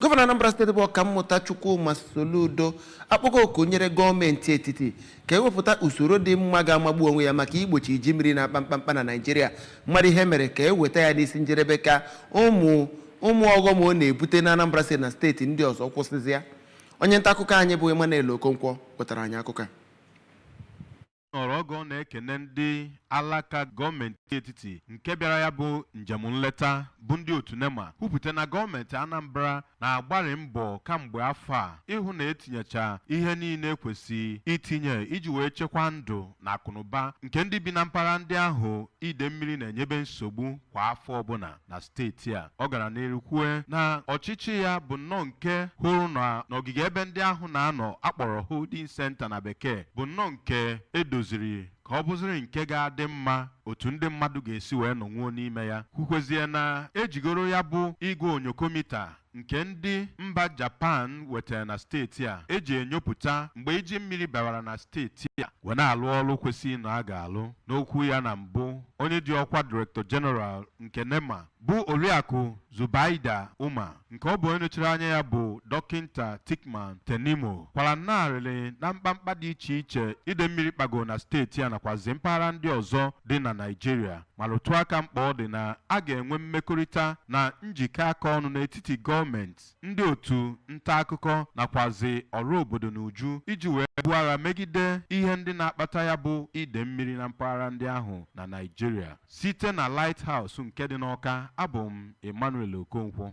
gọvanọ anambra steeti bụ ọkammụta chukwuma soludo akpọgo oku nyere gọọmenti etiti ka ewepụta usoro dị mma ga-amagbu onwe ya maka igbochi iji mmiri na-akpa mkpamkpa na naịjirịa mmadụ ihe mere ka eweta ya n'isi njedebe ka ụmụ ụmụ ọghọm ọ na-ebute na anambra steeti na steeti ndị ọzọ kwụsịzịa onye nta akụkọ anyị bụ emmanuel okonkwo wetara anyị akụkọ a nọrọ oge ọ na-ekene ndị alaka gọọmenti etiti nke bịara ya bụ njem nleta bụ ndị otu nema kwupụta na gọọmenti anambra na-agbarị mbọ kamgbe afọ a ịhụ na etinyecha ihe niile kwesị itinye iji wee chekwaa ndụ na akụnụba nke ndị bi na mpaghara ndị ahụ ide mmiri na-enyebe nsogbu kwa afọ ọbụla na steeti a ọ gara n'iru kwue na ọchịchị ya bụ nnọọ nke hụrụ na n'ogige ebe ndị ahụ na-anọ akpọrọ holding center na bekee bụ nnọọ nke edoziri ka ọ bụziri nke ga-adị mma otu ndị mmadụ ga-esi wee nọnwuo n'ime ya kwukwezie na ejigoro ya bụ igwe onyokomita nke ndị mba Japan wetara na steeti a eji enyopụta mgbe iji mmiri bawara na steeti a wee na-alụ ọrụ kwesịrị na a ga-alụ n'okwu ya na mbụ onye ji ọkwa Director General nke NEMA bụ Oriakụ Zubaida Umar nke ọ bụ onye nọchiri anya ya bụ Dọkịnta Thickman Tanimu kwara nnọọ arịrị na mkpamkpa dị iche iche ide mmiri kpago na steeti a nakwazi mpaghara ndị ọzọ dị na Naịjirịa ma rụtụ aka mkpa ọ dị na a ga-enwe mmekọrịta na njikọ aka ọnụ n'etiti gọọmenti, ndị otu nta akụkọ nakwazị ọra obodo n'uju iji wee buo agha megide ihe ndị na-akpata ya bụ ide mmiri na mpaghara ndị ahụ na Naịjirịa. Site na Light House nke dị n'Awka, abụ m Emmanuel Okonkwo.